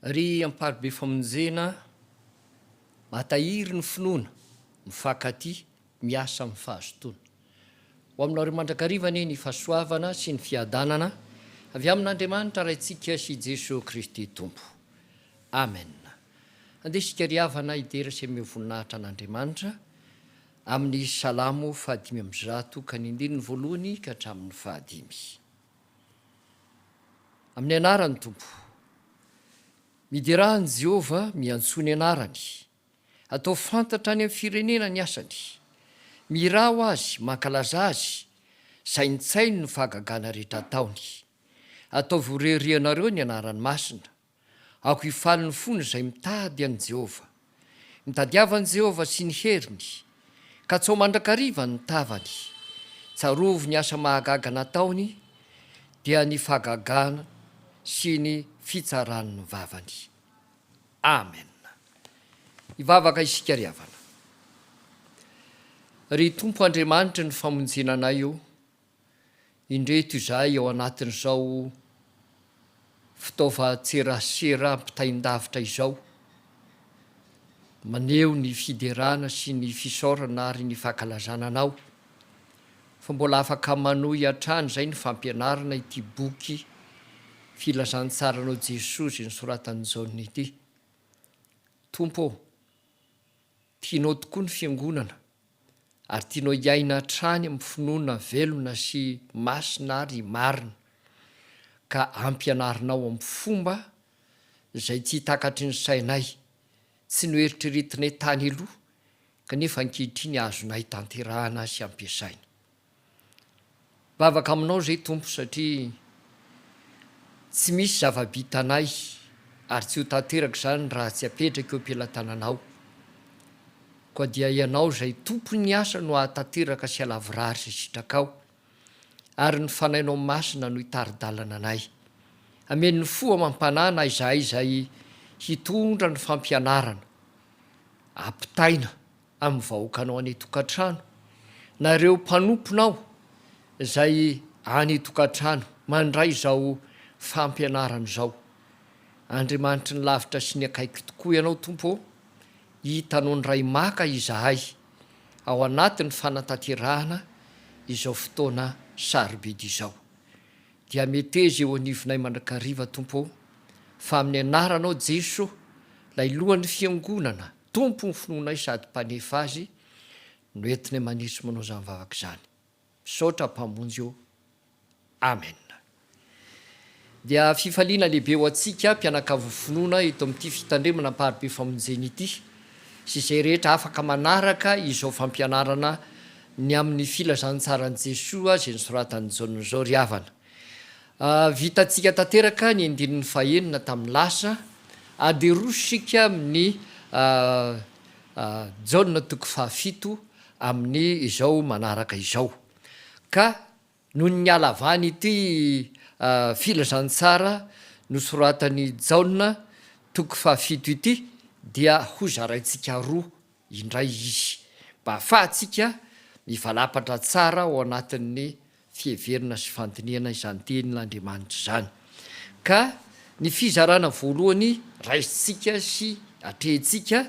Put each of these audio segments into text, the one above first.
Ry amparibe famonjena mahatahiry ny finoana, mifankatia, miasa amin'ny fahazotoana. Ho aminareo mandrakariva anie ny fahasoavana sy ny fiadanana avy amin'Andriamanitra Raintsika sy Jesoa Kristy Tompo. Amen. Andeha isika ry havana hidera sy hameho voninahitra an'Andriamanitra amin'ny Salamo fahadimy amby zato ka ny andininy voalohany ka hatramin'ny fahadimy. Amin'ny anaran'ny Tompo. Miderà an'i Jehovah, miantsoa ny anarany. Atao fantatra any amin'ny firenena ny asany. Mihirà ho azy, mankalaza azy, saintsaino ny fahagagana rehetra ataony. Ataovy ho rerianareo ny anarany masina. Aoka hifaly ny fony izay mitady an'i Jehovah. Mitadiava an'i Jehovah sy ny heriny. Katsao mandrakariva ny tavany. Tsarovy ny asa mahagaga nataony, dia ny fahagagana sy ny fitsaran'ny vavany. Amen. Hivavaka isika ry havana. Ry Tompo Andriamanitry ny famonjena anay ô! Indreto izahay ao anatin'izao fitaovan-tserasera ampitain-davitra izao, maneho ny fiderana sy ny fisaorana ary ny fankalazana anao fa mbola afaka manohy hatrany izay ny fampianarana ity boky Filazantsaranao Jesoa izay nosoratan'i Jaona ity. Tompo ô! Tianao tokoa ny Fiangonana ary tianao hiaina hatrany amin'ny finoana velona sy masina ary marina, ka ampianarinao amin'ny fomba izay tsy takatry ny sainay, tsy noeritreretinay tany aloha, kanefa ankehitriny azonay tanterahana sy ampiasaina. Vavaka aminao zay Tompo satria tsy misy zava-bitanay ary tsy ho tanteraka izany raha tsy apetraka eo am-pelatananao. Koa dia ianao izay Tompon'ny asa no ahatanteraka sy alavorary izay sitrakao ary ny Fanahinao Masina no hitari-dalana anay. Amen'ny fo amam-panahy na izahay izay hitondra ny fampianarana. Ampitaina amin'ny vahoakanao any an-tokantrano, na ireo mpanomponao izay any an-tokantrano, mandray izao fampianarana izao. Andriamanitry ny lavitra sy ny akaiky tokoa Ianao, Tompo ô! Hitanao ny Ray maka izahay ao anatin'ny fanatanterahana izao fotoana sarobidy izao. Dia meteza eo anivonay mandrakariva, Tompo ô, fa amin'ny Anaranao Jeso, Ilay Lohan'ny Fiangonana, Tompo ny finoanay sady Mpanefa azy no entinay manitsy manao izany vavaka izany. Misaotra Mpamonjy ô. Amen. Dia fifaliana lehibe ho antsika mpianakavy finoana eto amin'ity fitandremana Amparibe Famonjena ity sy izay rehetra afaka manaraka izao fampianarana ny amin'ny filazantsaran'i Jesoa izay nosoratan'i Jaona izao ry havana. Vitantsika tanteraka ny andininy fahenina tamin'ny lasa. Aderosika amin'ny Jaona toko fahafito amin'ny izao manaraka izao. Ka noho ny halavan'ity filazantsara nosoratan'i Jaona toko fahafito ity dia hozaraintsika roa indray izy mba hahafahantsika mivalapatra tsara ao anatin'ny fiheverana sy fandinihana izany Tenin'Andriamanitra izany. Ka ny fizarana voalohany raisintsika sy atrehintsika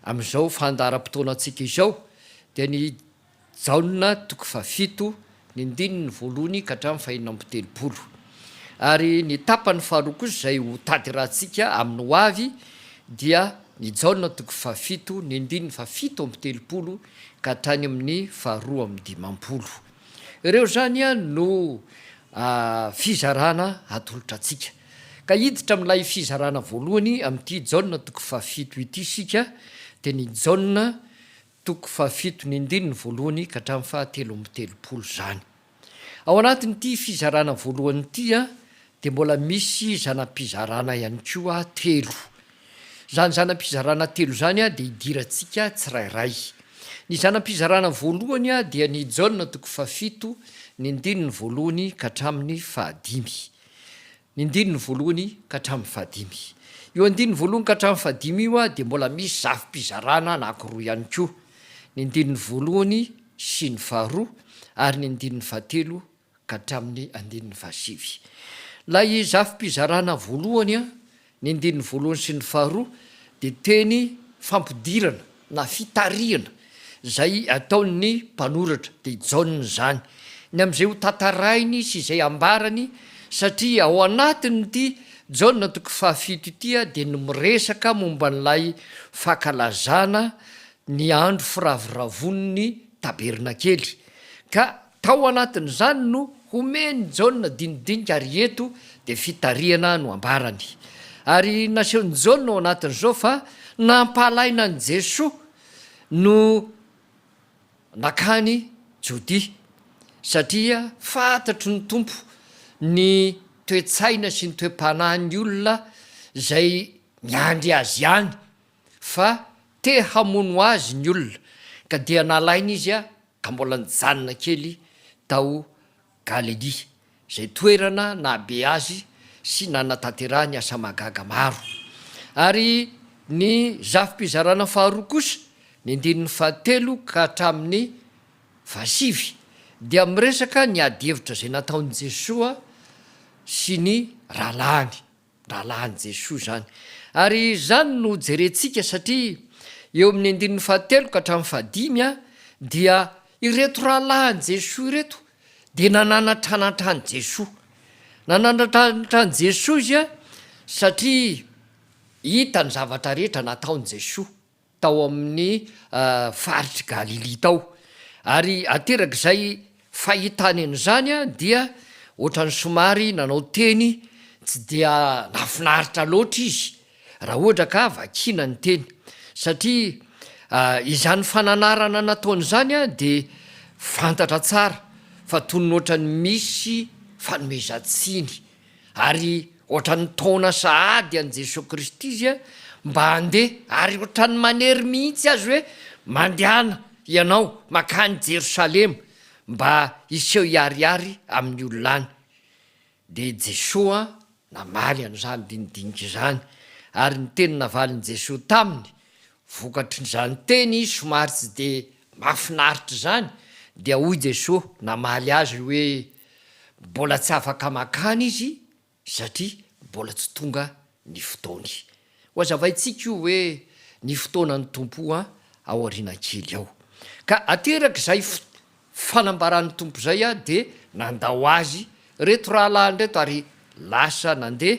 amin'izao fandaharam-potoanantsika izao dia ny Jaona toko fahafito, ny andininy voalohany ka hatramin'ny fahenina amby telopolo. Ary ny tapany faharoa kosa izay ho tanterahantsika amin'ny ho avy dia ny Jaona toko fahafito, ny andininy fahafito amby telopolo ka hatrany amin'ny faharoa amby dimampolo. Ireo izany no fizarana atolotra antsika. Ka hiditra amin'ilay fizarana voalohany amin'ity Jaona toko fahafito ity isika, dia ny Jaona Toko fahafito, ny andininy voalohany ka hatramin'ny fahatelo amby telopolo izany. Ao anatin'ity fizarana voalohany ity dia mbola misy zana-pizarana ihany koa telo. Izany zana-pizarana telo izany dia idirantsika tsirairay. Ny zana-pizarana voalohany dia ny Jaona toko fahafito, ny andininy voalohany ka hatramin'ny fahadimy. Ny andininy voalohany ka hatramin'ny fahadimy. Io andininy voalohany ka hatramin'ny fahadimy io dia mbola misy zafim-pizarana anankiroa ihany koa, ny andininy voalohany sy ny faharoa ary ny andininy fahatelo ka hatramin'ny andininy fahasivy. Ilay zafim-pizarana voalohany, ny andininy voalohany sy ny faharoa dia teny fampidirana. na fitarihana izay ataon'ny mpanoratra dia Jaona izany ny amin'izay ho tantarainy sy izay ambarany satria ao anatin'ity Jaona toko fahafito ity dia ny miresaka momba an'ilay fankalazana ny andro firavoravoan'ny tabernakely ka Tao anatin'izany no homen'i Jaona dinidinika ary eto dia fitarihana no ambarany. Ary nasehon'i Jaona ao anatin'izao fa nampahalaina an'i Jesoa no nakany Jodia satria fantatry ny Tompo ny toe-tsaina sy ny toe-panahin'ny olona izay miandry Azy any fa te hamono Azy ny olona ka dia nalaina Izy ka mbola nijanona kely tao Galelia, izay toerana nahabe azy sy nanatanterahany asa mahagaga maro. Ary ny zafi-pizarana faharoa kosa, ny andininy fahatelo ka hatramin'ny fahasivy, dia miresaka ny adihevitra izay nataon'i Jesoa sy ny rahalahiny. Rahalahin'i Jesoa izany. Ary izany no jerentsika satria eo amin'ny andininy fahatelo ka hatramin'ny fahadimy dia ireto rahalahin'i Jesoa ireto dia nananatranatra an'i Jesoa. Nananatranatra an'i Jesoa izy satria hita ny zavatra rehetra nataon'i Jesoa. tao amin'ny faritr'i Galilia tao. Ary aterak'izay fahitany an'izany dia ohatran'ny somary nanao teny tsy dia nahafinaritra loatra izy raha ohatra ka vakiana ny teny, satria izany fananarana nataony izany dia fantatra tsara fa toy ny ohatran'ny misy fanomezan-tsiny Ary ohatran'ny taona sahady an'i Jesoa Kristy izy a, mba handeha, ary ohatran'ny manery mihitsy azy hoe, Mandehana ianao mankany Jerosalema mba hiseho hiharihary amin'ny olona any. Dia Jesoa namaly an'izany dinidinika izany, ary ny teny navalin'i Jesoa taminy, Vokatrin'izany teny somary tsy dia mahafinaritra izany dia hoy Jesoa namaly azy hoe mbola tsy afaka mankany izy satria mbola tsy tonga ny fotoany. Hohazavaintsika io hoe ny fotoanan'ny Tompo aoriana kely ao. Ka aterak'izay Fanambaran'ny Tompo izay aho dia nandao azy ireto rahalahiny ireto ary lasa nandeha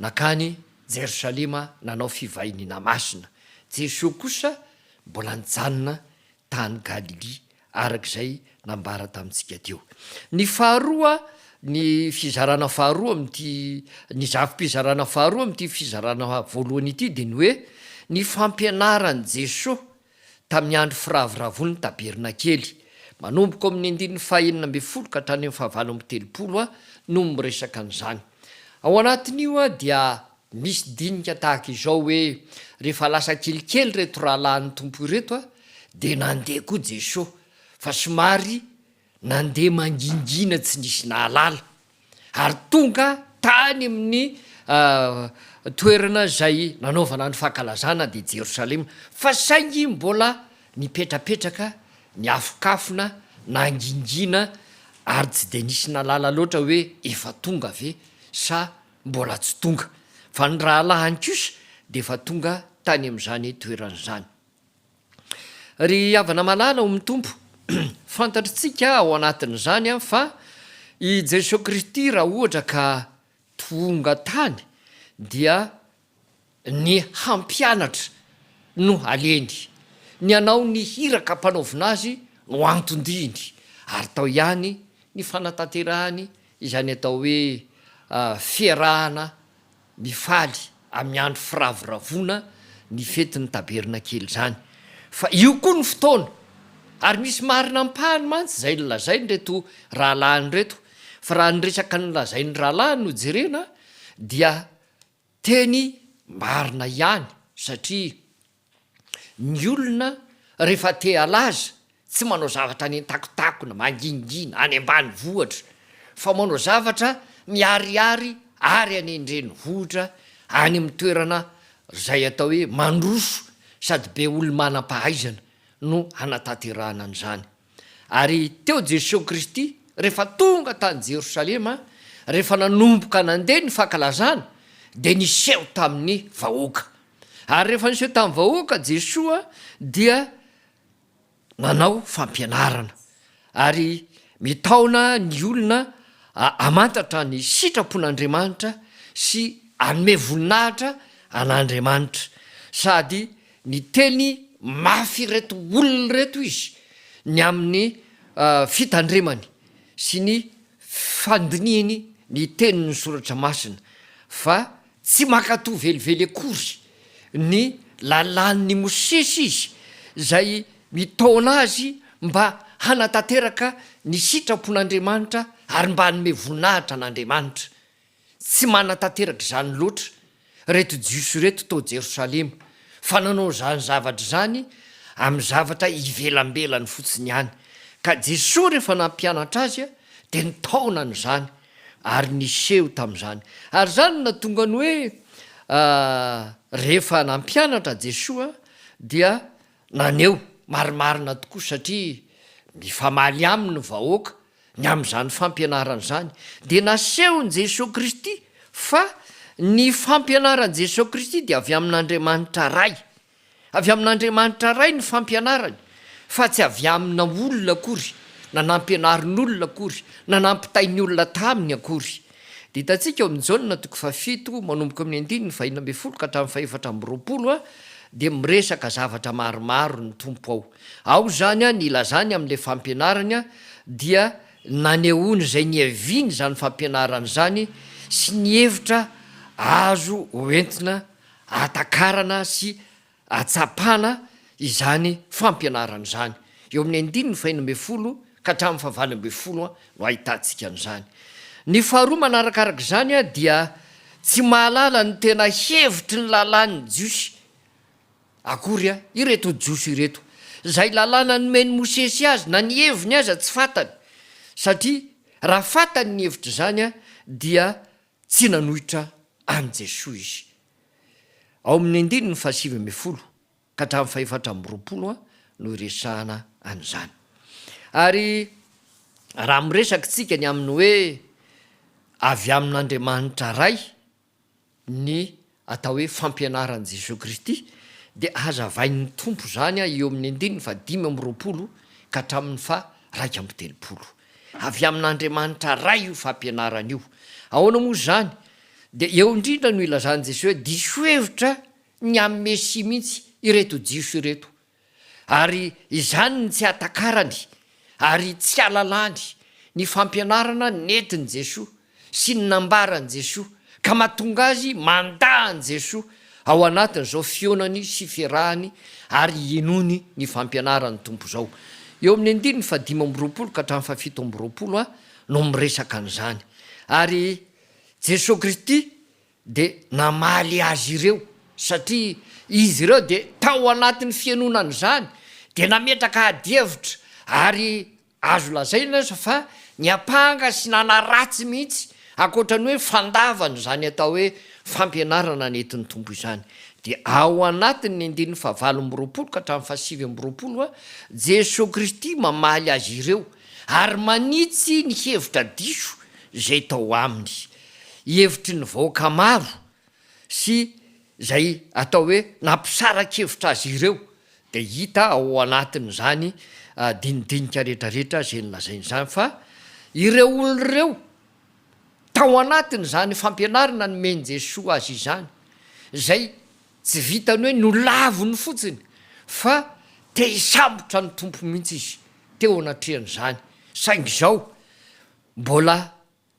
nankany Jerosalema nanao fivahiniana masina. Jesoa kosa mbola nijanona tany Galilia araka izay nambara tamintsika teo. Ny faharoa, ny fizarana faharoa amin'ity, ny zafi-pizarana faharoa amin'ity fizarana voalohany ity dia ny hoe ny fampianaran'i Jesoa Tamin'ny andro firavoravoan'ny Tabernakely, manomboka ao amin'ny andininy fahenina ambin'ny folo ka hatrany amin'ny fahavalo amby telopolo a no miresaka an'izany. Ao anatin'io a dia misy dinika tahaka izao hoe, Rehefa lasa kelikely ireto rahalahin'ny Tompo ireto a, dia nandeha koa Jesoa, fa somary Nandeha mangingina tsy nisy nahalala ary tonga tany amin'ny toerana izay nanaovana ny fankalazana dia Jerosalema fa saingy mbola nipetrapetraka niafokafona nangingina ary tsy dia nisy nahalala loatra hoe efa tonga ve sa mbola tsy tonga fa ny rahalahiny kosa dia efa tonga tany amin'izany toerana izany. Ry havana malala ao amin'ny Tompo, fantatritsika ao anatin'izany fa i Jesoa Kristy raha ohatra ka tonga tany dia ny hampianatra no aleny, ny hanao ny hiraka ampanaovina azy no anton-diany ary tao ihany ny fanatanterahany izany atao hoe fiarahana mifaly amin'ny andro firavoravoana ny fetin'ny Tabernakely izany, fa io koa ny fotoana, ary misy marina ampahany mantsy izay nolazain'ireto rahalahiny ireto, fa raha ny resaka nolazain'ny rahalahy no jerena dia teny marina ihany, satria Ny olona rehefa te halaza, tsy manao zavatra any an-takontakona, mangingina, any ambanivohitra, fa manao zavatra miharihary ary any an-drenivohitra, any amin'ny toerana izay atao hoe mandroso sady be olo-manam-pahaizana no hanatanterahana an'izany. Ary teo Jesosy Kristy rehefa tonga tany Jerosalema, rehefa nanomboka nandeha ny fankalazana dia niseho tamin'ny vahoaka. Ary rehefa niseho tamin'ny vahoaka Jesoa dia nanao fampianarana ary mitaona ny olona hamantatra ny sitrapon'Andriamanitra sy hanome voninahitra an'Andriamanitra sady Niteny mafy ireto olona ireto izy ny amin'ny fitandremany sy ny fandinihiny ny tenin'ny Soratra Masina fa tsy mankatò velively akory ny lalàn'i Mosesy izy izay mitaona azy mba hanatanteraka ny sitrapon'Andriamanitra ary mba hanome voninahitra an'Andriamanitra. Tsy manatanteraka izany loatra ireto Jiosy ireto tao Jerosalema, fa nanao izany zavatra izany amin'ny zavatra ivelambelany fotsiny ihany, ka Jesoa rehefa nampianatra azy dia nitaonany izany ary niseho tamin'izany. Ary izany no nahatonga ny hoe rehefa nampianatra Jesoa dia Naneho marimarina tokoa satria mifamaly aminy ny vahoaka ny amin'izany fampianarana izany. Dia nasehon'i Jesoa Kristy fa ny fampianaran'i Jesoa Kristy dia avy amin'Andriamanitra Ray. Avy amin'Andriamanitra Ray ny fampianarany fa tsy avy amina olona akory, na nampianarin'olona akory, na nampitain'ny olona taminy akory. Dia hitantsika ao amin'ny Jaona toko fahafito manomboka amin'ny andininy fahenina ambin'ny folo ka hatramin'ny fahefatra amby roapolo dia miresaka zavatra maromaro ny Tompo ao. Ao izany ny ilazany amin'ilay fampianarany dia nanehoany izay niaviany izany fampianarany izany sy ny hevitra azo hoentina hatakarana sy Hahatsapana izany fampianarana izany. Eo amin'ny andininy faheno ambin'ny folo ka hatramin'ny fahavalo ambin'ny folo no ahitantsika an'izany. Ny faharoa manaraka araka izany dia tsy mahalala ny tena hevitry ny lalàn'ny Jiosy akory ireto Jiosy ireto. Izay lalàna nomen'i Mosesy azy na ny heviny aza tsy fantany satria raha fantany ny hevitra izany dia tsy nanohitra an'i Jesoa izy. Ao amin'ny andininy fahasivy ambin'ny folo ka hatramin'ny fahefatra amby roapolo no iresahana an'izany. Ary raha miresaka isika ny amin'ny hoe avy amin'Andriamanitra Ray ny atao hoe fampianaran'i Jesoa Kristy dia hazavain'ny Tompo izany eo amin'ny andininy fahadimy amby roapolo ka hatramin'ny faha iraika amby telopolo. Avy amin'Andriamanitra Ray io fampianarana io. Ahoana moa izany? Dia eo indrindra no ilazan'i Jesoa hoe diso hevitra ny amin'ny Mesia mihitsy ireto Jiosy ireto, ary izany no tsy hahatakarany ary tsy hahalalany ny fampianarana nentin'i Jesoa. sy ny nambaran'i Jesoa ka mahatonga azy mandà an'i Jesoa ao anatin'izao fihaonany sy fiarahany ary hinoany ny fampianaran'ny Tompo izao. Eo amin'ny andininy fahadimy amby roapolo ka hatramin'ny fahafito amby roapolo no miresaka an'izany. Ary Jesoa Kristy dia namaly azy ireo satria izy ireo dia tao anatin'ny fihainoana an'izany dia nametraka ady hevitra ary Azo lazaina aza fa niampanga sy nanaratsy mihitsy, ankoatra ny hoe fandavany izany atao hoe fampianarana nentin'ny Tompo izany. Dia ao anatin'ny andininy fahavalo amby roapolo ka hatramin'ny fahasivy amby roapolo, Jesoa Kristy mamaly azy ireo ary manitsy ny hevitra diso izay tao aminy. Hevitry ny vahoaka maro. sy izay atao hoe nampisara-kevitra azy ireo dia hita ao anatin'izany dinidinika rehetrarehetra izay nolazaina izany fa ireo olona ireo tao anatin'izany fampianarana nomen'i Jesoa azy izany izay tsy vitan'ny hoe nolaviny fotsiny fa te hisambotra ny Tompo mihitsy izy teo anatrehan'izany saingy izao mbola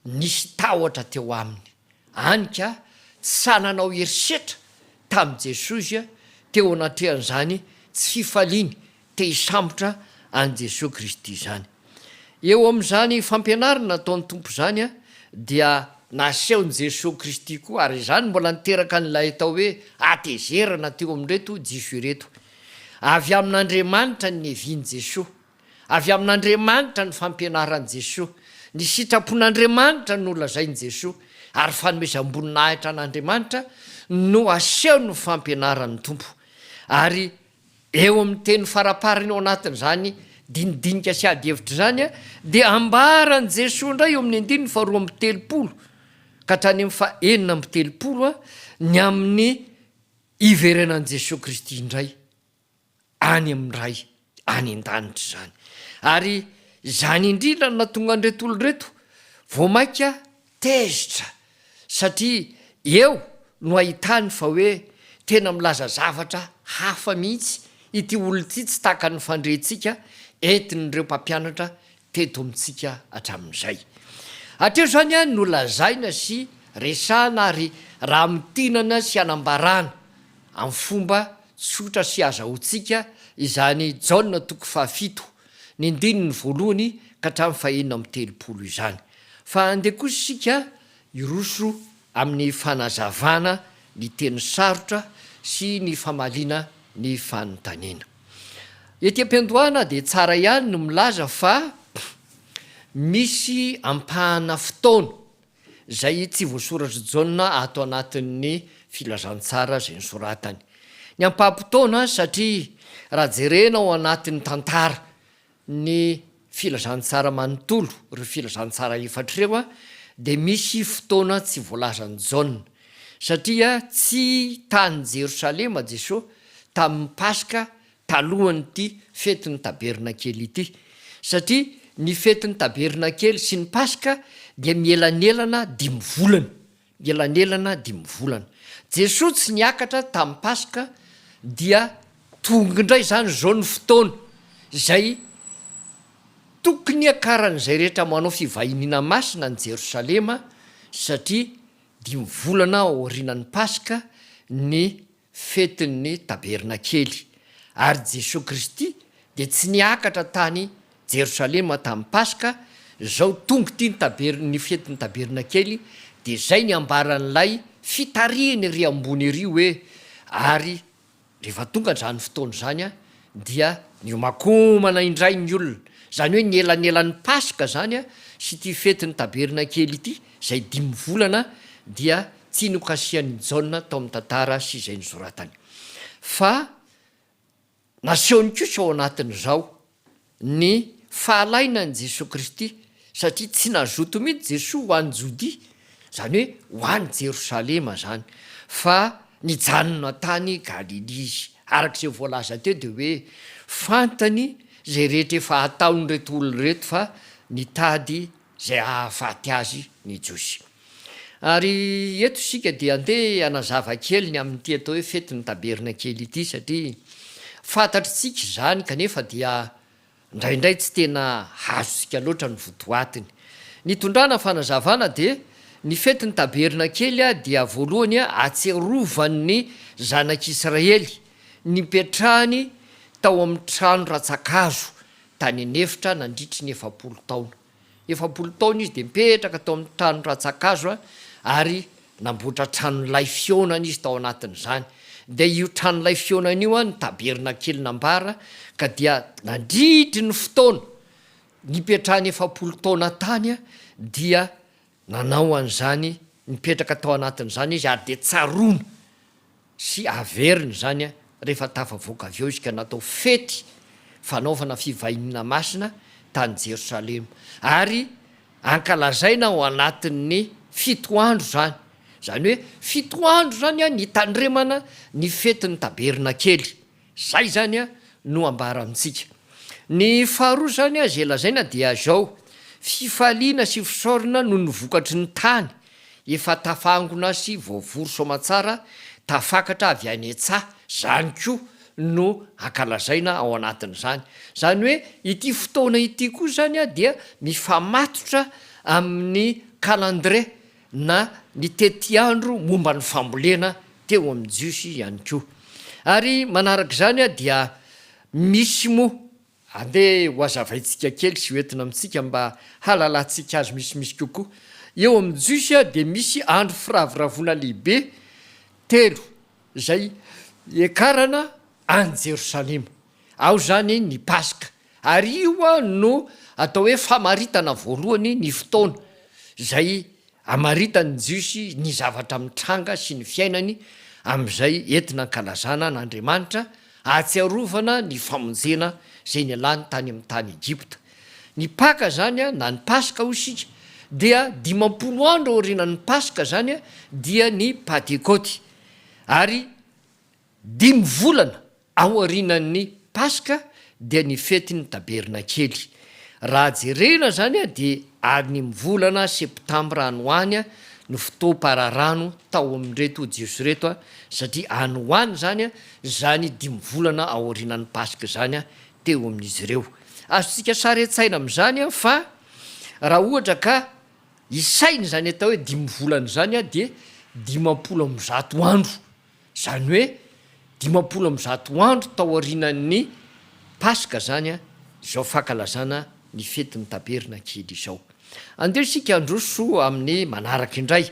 Nisy tahotra teo aminy, any ka tsy sahy nanao herisetra tamin'i Jesosy teo anatrehan'izany tsy fifaliany te hisambotra an'i Jesoa Kristy izany. Eo amin'izany fampianarana nataon'ny Tompo izany dia nasehon'i Jesoa Kristy koa, ary izany mbola niteraka an'ilay atao hoe hatezerana teo amin'ireto Jiosy ireto. Avy amin'Andriamanitra ny nevin'i Jesoa. Avy amin'Andriamanitra ny fampianaran'i Jesoa. Ny sitrapon'Andriamanitra no lazain'i Jesoa, ary fanomezam-boninahitra an'Andriamanitra no asehon'ny fampianaran'ny Tompo. Ary eo amin'ny teny faraparany ao anatin'izany dinidinika sy adihevitra izany dia ambaran'i Jesoa indray eo amin'ny andininy faharoa amby telopolo ka hatrany amin'ny fahenina amby telopolo ny amin'ny hiverenan'i Jesoa Kristy indray. any amin'ny Ray any an-danitra izany. Ary izany indrindra no nahatonga an'ireto olona ireto vao mainka tezitra, satria eo no ahitany fa hoe tena milaza zavatra hafa mihitsy ity olona ity, tsy tahaka ny fandrehintsika entin'ireo mpampianatra teto amintsika hatramin'izay. Hatreoizany ihany no lazaina sy resahana ary ramintinana sy anambarana amin'ny fomba tsotra sy azahoantsika izany Jaona toko fahafito, ny andininy voalohany ka hatramin'ny fahenina amby telopolo izany. Fa andeha kosa isika hiroso amin'ny fanazavana ny teny sarotra sy ny famaliana ny fanontaniana. Ety am-piandohana dia tsara ihany ny milaza fa misy ampahana fotoana izay tsy voasoratr'i Jaona ato anatin'ny filazantsara izay nosoratany. Ny ampaham-potoana satria raha jerena ao anatin'ny tantara Ny filazantsara manontolo, ireo filazantsara efatra ireo dia misy fotoana tsy voalazan'i Jaona, satria tsy tany Jerosalema Jesoa tamin'ny Paska talohan'ity fetin'ny Tabernakely ity, satria ny fetin'ny Tabernakely sy ny Paska dia mielanelana dimy volana. Elanelana dimy volana Jesoa tsy niakatra tamin'ny Paska dia tonga indray izany izao ny fotoana izay tokony hiakaran'izay rehetra manao fivahiniana masina any Jerosalema satria dimy volana aorianan'ny Paska ny fetin'ny Tabernakely, ary Jesoa Kristy dia tsy niakatra tany Jerosalema tamin'ny Paska, izao tonga ity ny taber ny fetin'ny Tabernakely, dia izay ny ambaran'ilay fitarihiny ery ambony ery hoe, ary rehefa tonga izany fotoana izany dia niomakomana indray ny olona, izany hoe ny elanelan'ny Paska izany sy ity fetin'ny Tabernakely ity, izay dimy volana, dia Tsy nokasihan'i Jaona tao amin'ny tantara sy izay nosoratany, fa nasehony kosa ao anatin'izao ny fahalainan'i Jesoa Kristy, satria tsy nazoto mihitsy Jesoa ho any Jodia, izany hoe ho any Jerosalema izany, fa nijanona tany Galilia Izy. Araka izay voalaza teo dia hoe fantany izay rehetra efa hataon'ireto olona ireto fa nitady izay hahafaty azy ny Jiosy. Ary eto isika dia andeha hanazava kely ny amin'ity atao hoe fetin'ny Tabernakely ity satria fantatr'tsika izany kanefa dia indraindray tsy tena azontsika loatra ny votoatiny. Ny tondrana fanazavana dia ny fetin'ny Tabernakely dia voalohany atsirovan'ny zanak'Israely nipetrahany tao amin'ny trano ratsa-kazo tany an'efitra nandritry ny efapolo taona. Efapolo taona izy dia nipetraka tao amin'ny trano rantsankazo ary namboatra tranolay fihaonana izy tao anatin'izany. Dia io tranolay fihaonana io no tabernakely nambara ka dia nandritry ny fotoana nipetrahany efapolo taona tany dia Nanao an'izany, nipetraka tao anatin'izany izy ary dia tsaroana sy averina izany rehefa tafavoaka avy eo izy ka natao fety fanaovana fivahiniana masina tany Jerosalema ary ankalazaina ao anatin'ny fito andro izany, izany hoe fito andro izany nitandremana ny fetin'ny Tabernakely. Zay izany no ambara amintsika. Ny faharoa izany izay lazaina dia izao, fifaliana sy fisaorana noho ny vokatry ny tany efa tafangona sy voavory soamantsara tafakatra avy any an-tsaha, izany koa no ankalazaina ao anatin'izany. Izany hoe ity fotoana ity koa izany dia mifamatotra amin'ny calendré na ny tetiandro momba ny fambolena teo amin'ny Jiosy ihany koa. Ary manaraka izany dia misy moa, andeha hohazavaintsika kely sy hoentina amintsika mba hahalalantsika azy misimisy kokoa, eo amin'ny Jiosy dia misy andro firavoravoana lehibe telo izay hiakarana an'i Jerosalema. Ao izany ny Paska, ary io no atao hoe famaritana voalohany ny fotoana izay amaritan'ny Jiosy ny zavatra mitranga sy ny fiainany amin'izay entina ankalazana an'Andriamanitra ahatsiarovana ny famonjena izay nialany tany amin'ny tany Egypta. Ny Paka izany na ny Paska hoy isika dia dimampolo andro aorianan'ny Paska izany dia ny Pantekoty ary Dimy volana aorianan'ny Paska dia ny fetin'ny Tabernakely. Raha jerena izany dia any amin'ny volana Septambra any ho any no fotoam-pararano tao amin'ireto Jiosy ireto satria any ho any izany izany dimy volana aorianan'ny Paska izany teo amin'izy ireo. Azontsika sary an-tsaina amin'izany fa raha ohatra ka isaina izany atao hoe dimy volana izany dia dimampolo amby zato andro. Izany hoe dimampolo amby zato andro tao aorianan'ny Paska izany izao fankalazana ny fetin'ny Taberna kely izao. Andeho isika handroso amin'ny manaraka indray.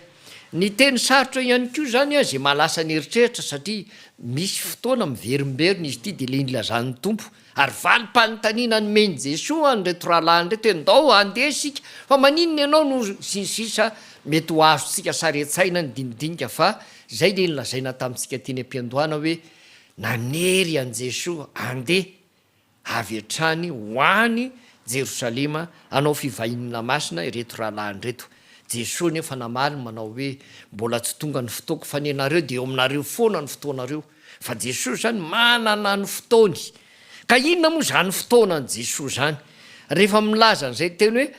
Ny teny sarotra ihany koa izany izay mahalasa ny eritreritra satria misy fotoana miverimberina izy ity dia ilay nilazan'ny Tompo Ary valim-panontaniana nomen'i Jesoa ho an'ireto rahalahy an'ireto hoe, Ndao handeha isika, fa maninona ianao no. Sy ny sisa Mety ho azontsika sary an-tsaina ny dinidinika fa izay ilay nolazaina tamintsika teny am-piandohana hoe nanery an'i Jesoa handeha avy hatrany ho any Jerosalema hanao fivahiniana masina ireto rahalahiny ireto. Jesoa anefa namaly manao hoe, Mbola tsy tonga ny fotoako fa ny anareo dia eo aminareo foana ny fotoanareo. Fa Jesoa zany manana ny fotoany. Ka inona moa zany fotoana an'i Jesoa zany? Rehefa milaza an'izay teny hoe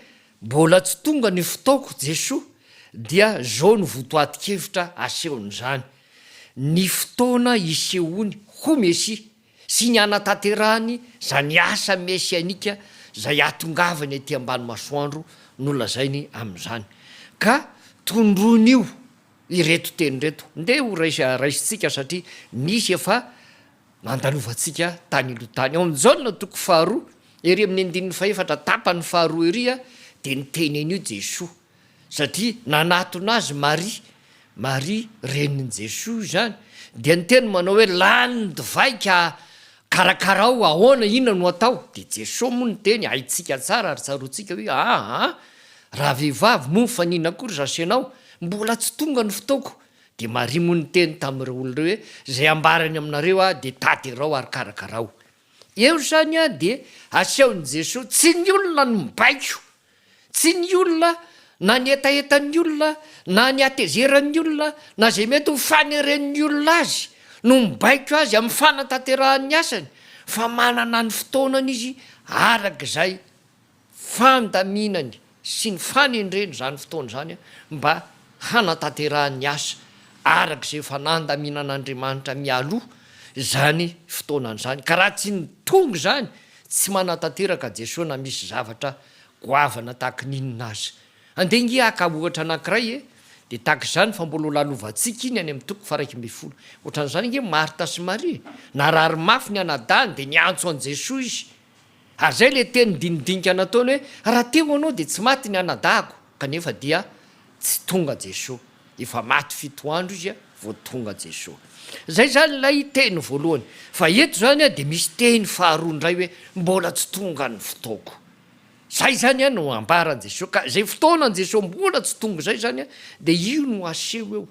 mbola tsy tonga ny fotoako Jesoa dia zao no votoatin-kevitra asehon'izany, ny fotoana isehoany ho Mesia sy ny hanatanterahany zany asa mesianika zay hatongavany aty ambany masoandro nolazainy amin'izany. Ka tondroin'io. Ireto teny ireto, ndeha ho raisa raisintsika satria nisy efa nandalovantsika tany aloha tany. Ao amin'ny Jaona toko faharoa, ery amin'ny andininy fahefatra tapany faharoa ery dia niteny an'io Jesoa satria nanatona azy Maria, Maria renin'i Jesoa izany, dia niteny manao hoe lany ny divay ka Karakarao ahoana inona no atao? Dia Jesoa moa niteny, haintsika tsara ary tsaroantsika hoe, aa, raha vehivavy moa mifanina akory zasy ianao, mbola tsy tonga ny fotoako, dia Maria moa niteny tamin'ireo olona ireo hoe, izay ambarany aminareo aho dia taterao ary karakarao. Eo izany dia asehon'i Jesoa, tsy ny olona no mibaiko Tsy ny olona, na ny hetahetan'ny olona, na ny hatezeran'ny olona, na izay mety ho faneren'ny olona azy no mibaiko azy amin'ny fanatanterahan'ny asany fa manana ny fotoanany izy araka izay fandaminany sy ny fanendreny izany fotoana izany mba hanatanterahany ny asa araka izay efa nandaminan'Andriamanitra mialoha izany fotoana izany, ka raha tsy ny tonga izany tsy manatanteraka Jesoa na misy zavatra goavana tahaka ny inona aza. Andeha ngia haka ohatra anankiray e, dia tahaka izany fa mbola ho lalovantsika iny any amin'ny toko faharaika ambin'ny folo. Ohatran'izany ange Marta sy Maria, narary mafy ny anadahiny dia niantso an'i Jesoa izy, Ary izay ilay teny dinidinika nataony hoe, Raha te ho anao dia tsy maty ny anadahako, kanefa dia tsy tonga Jesoa. Efa maty fito andro izy vao tonga Jesoa. Izay izany ilay teny voalohany. Fa eto izany dia misy teny faharoa indray hoe, Mbola tsy tonga ny fotoako. Izay izany no ambaran'i Jesoa. Ka izay fotoanan'i Jesoa mbola tsy tonga izay izany dia io no aseho eo.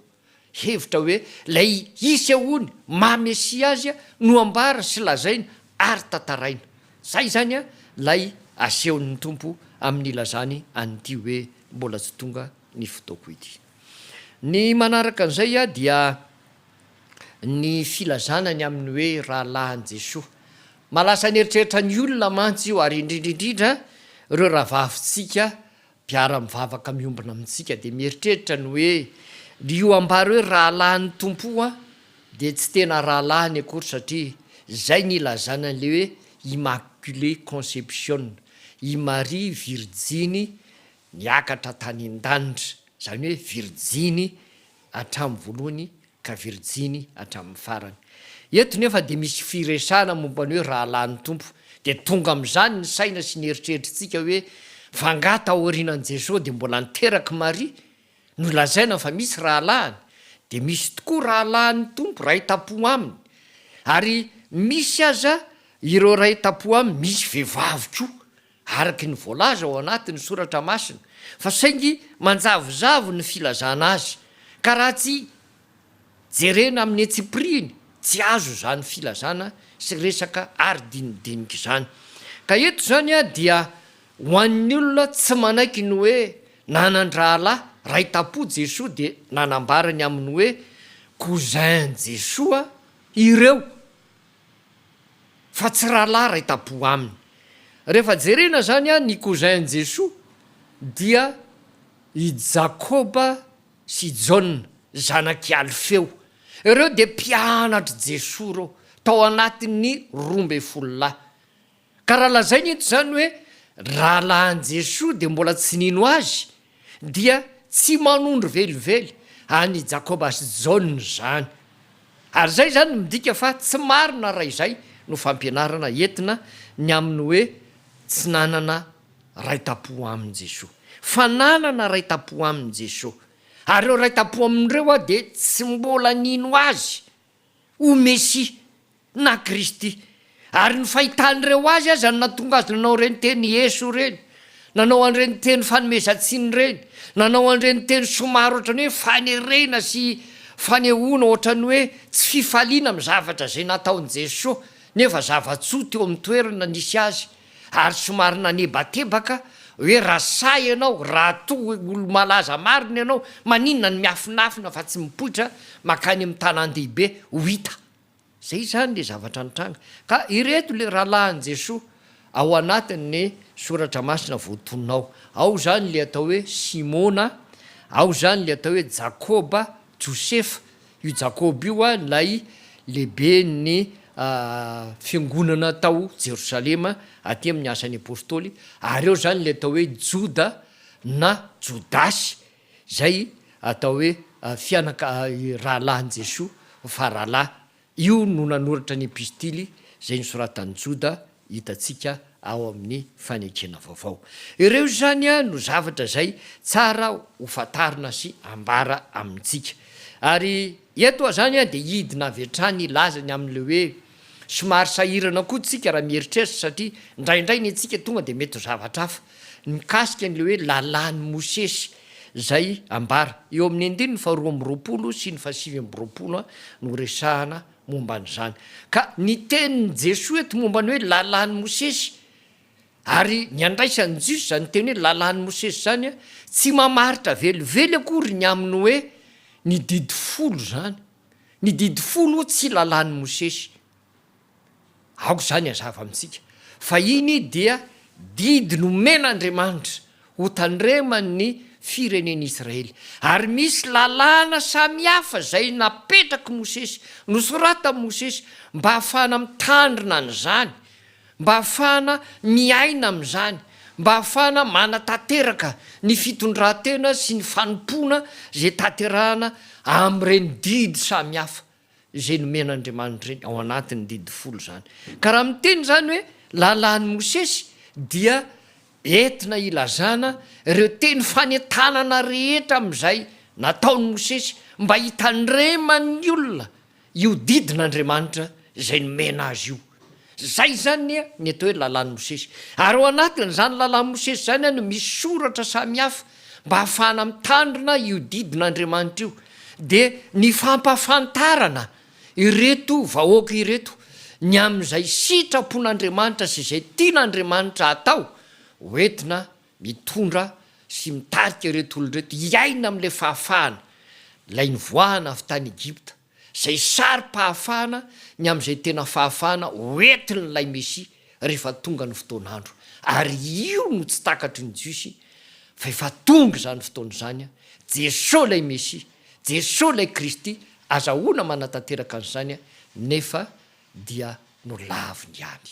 Hevitra hoe ilay hisy ahoany maha Mesia azy no ambara sy lazaina ary tantaraina. Izay izany ilay asehon'ny Tompo amin'ny ilazany an'ity hoe mbola tsy tonga ny fotoako ity. Ny manaraka an'izay dia ny filazana ny amin'ny hoe rahalahin'i Jesoa. Mahalasa ny eritreritra ny olona mantsy io ary indrindra indrindra ireo rahavavintsika Mpiara-mivavaka miombona amintsika dia mieritreritra ny hoe, Ry io ambara hoe rahalahin'ny Tompo io aho dia tsy tena rahalahiny akory satria izay ny ilazana an'ilay hoe Immaculée Conception, i Maria Virjiny niakatra tany an-danitra, izany hoe Virjiny hatramin'ny voalohany ka virjiny hatramin'ny farany. Eto nefa dia misy firesahana momba ny hoe rahalahy ny Tompo, dia tonga amin'izany ny saina sy ny eritreritritsika hoe fa angaha taorianan'i Jesoa dia mbola niterak'i Maria? Nolazaina fa misy rahalahiny, dia misy tokoa rahalahy ny Tompo, ray tam-po aminy, ary misy aza ireo ray tam-po aminy misy vehivavy koa. araka ny voalaza ao anatin'ny Soratra Masina, fa saingy manjavozavo ny filazana azy, ka raha tsy jerena amin'ny antsipirihiny, tsy azo izany filazana sy resaka aridinidinika izany. Ka eto izany dia ho an'ny olona tsy manaiky ny hoe nanan-drahalahy ray tam-po Jesoa dia nanambara ny amin'ny hoe cousin-Jesoa ireo, fa tsy rahalahy ray tampo aminy. Rehefa jerena zany an ny cousin Jesoa dia i Jakoba sy Jaona zanak'i Alfeo. Ireo dia mpianatr'i Jesoa ireo tao anatin'ny roa ambin'ny folo lahy. Ka raha lazaina eto izany hoe rahalahin'i Jesoa dia mbola tsy nino Azy dia tsy manondro velively an'i Jakoba sy Jaona izany. Ary izay izany midika fa tsy marina raha izay no fampianarana entina ny amin'ny hoe tsy nanana raitapo amin'i Jesoa. Fa nanana raitapo amin'i Jesoa. Ary ireo raitapo amin'ireo dia tsy mbola nino Azy ho Mesia na Kristy. Ary ny fahitan'ireo Azy aza no nahatonga Azy nanao ireny teny Ieso ireny, nanao an'ireny teny fanomezan-tsiny ireny, nanao an'ireny teny somary ohatran'ny hoe fanerena sy fanehoana ohatran'ny hoe tsy fifaliana amin'ny zavatra izay nataon'i Jesoa, nefa zava-tsoa teo amin'ny toerana nisy Azy. ary somary nanebatebaka hoe raha sahy ianao, raha toa hoe olo-malaza marina ianao, maninona no miafinafina fa tsy mipoitra makany amin'ny tanàn-dehibe ho hita? Izay izany ilay zavatra nitranga. Ka ireto ilay rahalahin'i Jesoa ao anatin'ny Soratra Masina voatonona ao. Ao izany ilay atao hoe Simona, ao izany ilay atao hoe Jakoba, Josefa, io Jakoba io a, ilay lehiben'ny fiangonana tao Jerosalema aty amin'ny Asan'ny Apôstôly, ary eo izany ilay atao hoe Joda na Jodasy izay atao hoe fianaka- rahalahin'i Jesoa, fa rahalahy Io no nanoratra ny Epistily izay nosoratan'i Joda hitantsika ao amin'ny Fanekena Vaovao. Ireo izany no zavatra izay tsara ho fantarina sy ambara amintsika. Ary eto izany dia hidina avy hatrany hilaza ny amin'ilay hoe somary sahirana koa isika raha mieritreritra satria indraindray ny antsika tonga dia mety ho zavatra hafa mikasika an'ilay hoe lalàn'i Mosesy izay ambara eo amin'ny andininy faharoa amby roapolo sy ny fahasivy amby roapolo no resahana momba an'izany. Ka ny tenin'i Jesoa eto momba ny hoe lalàn'i Mosesy ary ny andraisan'ny Jiosy izany teny hoe lalàn'i Mosesy izany tsy mamaritra velively akory ny amin'ny hoe ny didy folo izany. Ny didy folo tsy lalàn'i Mosesy. Aoka izany hazava amintsika fa iny dia didy nomen'Andriamanitra hotandreman'ny firenen'i Israely. Ary misy lalàna samihafa izay napetrak'i Mosesy, nosoratan'i Mosesy mba hahafahana mitandrina an'izany, mba hahafahana miaina amin'izany, mba hahafahana manatanteraka ny fitondran-tena sy ny fanompoana izay tanterahana amin'ireny didy samihafa. izay nomen'Andriamanitra ireny ao anatin'ny didy folo izany. Ka raha miteny izany hoe lalàn'i Mosesy dia entina hilazana ireo teny fanentanana rehetra amin'izay nataon'i Mosesy mba hitandreman'ny olona io didin'Andriamanitra izay nomena azy io. Izay izany anie ny atao hoe Lalàn'i Mosesy. Ary ao anatin'izany Lalàn'i Mosesy izany no misy soratra samihafa mba hahafahana mitandrina io didin'Andriamanitra io. Dia ny fampahafantarana ireto vahoaka ireto ny amin'izay sitrapon'Andriamanitra sy izay tian'Andriamanitra hatao, hoentina mitondra sy mitarika ireto olona ireto hiaina amin'ilay fahafahana, ilay nivoahana avy tany Egypta. izay saro-pahafahana ny amin'izay tena fahafahana hoentin'ilay Mesia rehefa tonga ny fotoan'andro, ary io no tsy takatry ny Jiosy fa efa tonga izany fotoana izany, Jesoa ilay Mesia, Jesoa ilay Kristy, azahoana manatanteraka an'izany nefa dia nolaviny ihany.